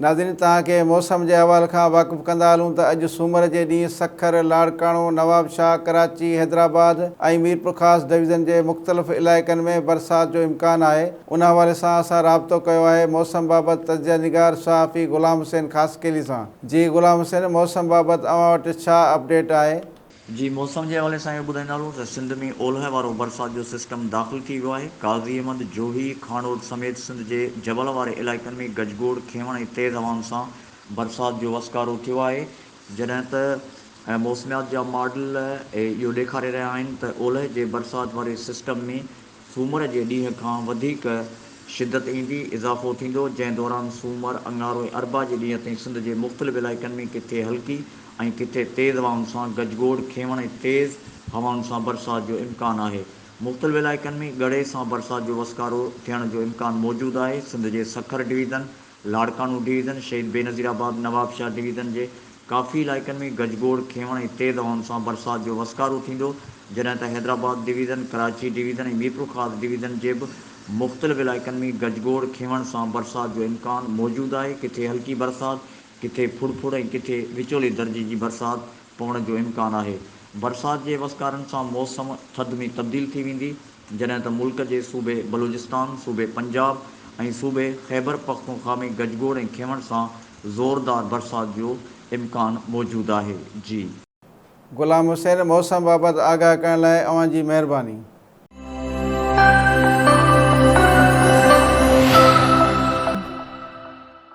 ناظرين توهان کي موسم جي احوال کان واقف ڪندا هلون ته اڄ سومر جي ڏينهن سکر، لاڙڪاڻو، نوابشاهه، ڪراچي، حيدرآباد ۽ ميرپورخاص ڊويزن جي مختلف علائقن ۾ برسات جو امڪان آهي ان حوالي سان اسان رابطو ڪيو آهي موسم بابت تجزيه نگار صحافي غلام حسين خاصخيلي سان جي غلام حسين موسم بابت اوهان وٽ ڇا اپڊيٽ آهي؟ جي موسم جي حوالي سان اهو ٻڌائيندا هلون ته سنڌ ۾ اولهه وارو برسات جو سسٽم داخل ٿي ويو آهي، قاضي احمد، جوهي، کانئوٽ سميت سنڌ جي جبل واري علائقن ۾ گجگوڙ، کينوڻ ۽ تيز هوائن سان برسات جو وسڪارو ٿيو آهي، جڏهن ته موسميات جا ماڊل اهو ڏيکاري رهيا آهن ته اولهه جي برسات واري سسٽم ۾ سومر جي ڏينهن کان وڌيڪ شدت ايندي، اضافو ٿيندو، جنهن دوران سومر، اڱارو ۽ اربع جي ڏينهن تائين سنڌ جي مختلف علائقن ۾ ڪٿي هلڪي ۽ ڪٿي تيز هوائن سان گج گوڙ، کيون ۽ تيز هوائن سان برسات جو امڪان آهي. مختلف علائقن ۾ ڳڙهي سان برسات جو وسڪارو ٿيڻ جو امڪان موجود آهي. سنڌ جي سکر ڊويزن. لاڙڪاڻو ڊويزن، شهيد بينظير آباد، نوابشاهه ڊويزن جي ڪافي علائقن ۾ گجگوڙ، کينوڻ ۽ تيز هوائن سان برسات جو وسڪارو ٿيندو، جڏهن ته Hyderabad division, Karachi division ۽ Mirpurkhas division جي به مختلف علائقن ۾ گجگوڙ، کينوڻ سان برسات جو امڪان موجود آهي، ڪٿي هلڪي برسات، ڪٿي ڦڙڦڙ ۽ ڪٿي وچولي درجي جي برسات پوڻ جو امڪان آهي. برسات جي وسڪارن سان موسم ٿڌ ۾ تبديل ٿي ويندي، جڏهن ته ملڪ جي صوبي بلوچستان، صوبي پنجاب ۽ صوبي خيبرپختونخوا ۾ گجگوڙ ۽ کينوڻ سان زوردار برسات جو امڪان موجود آهي. جي. غلام حسين موسم بابت آگاهه ڪرڻ لاء اوهان جي مهرباني.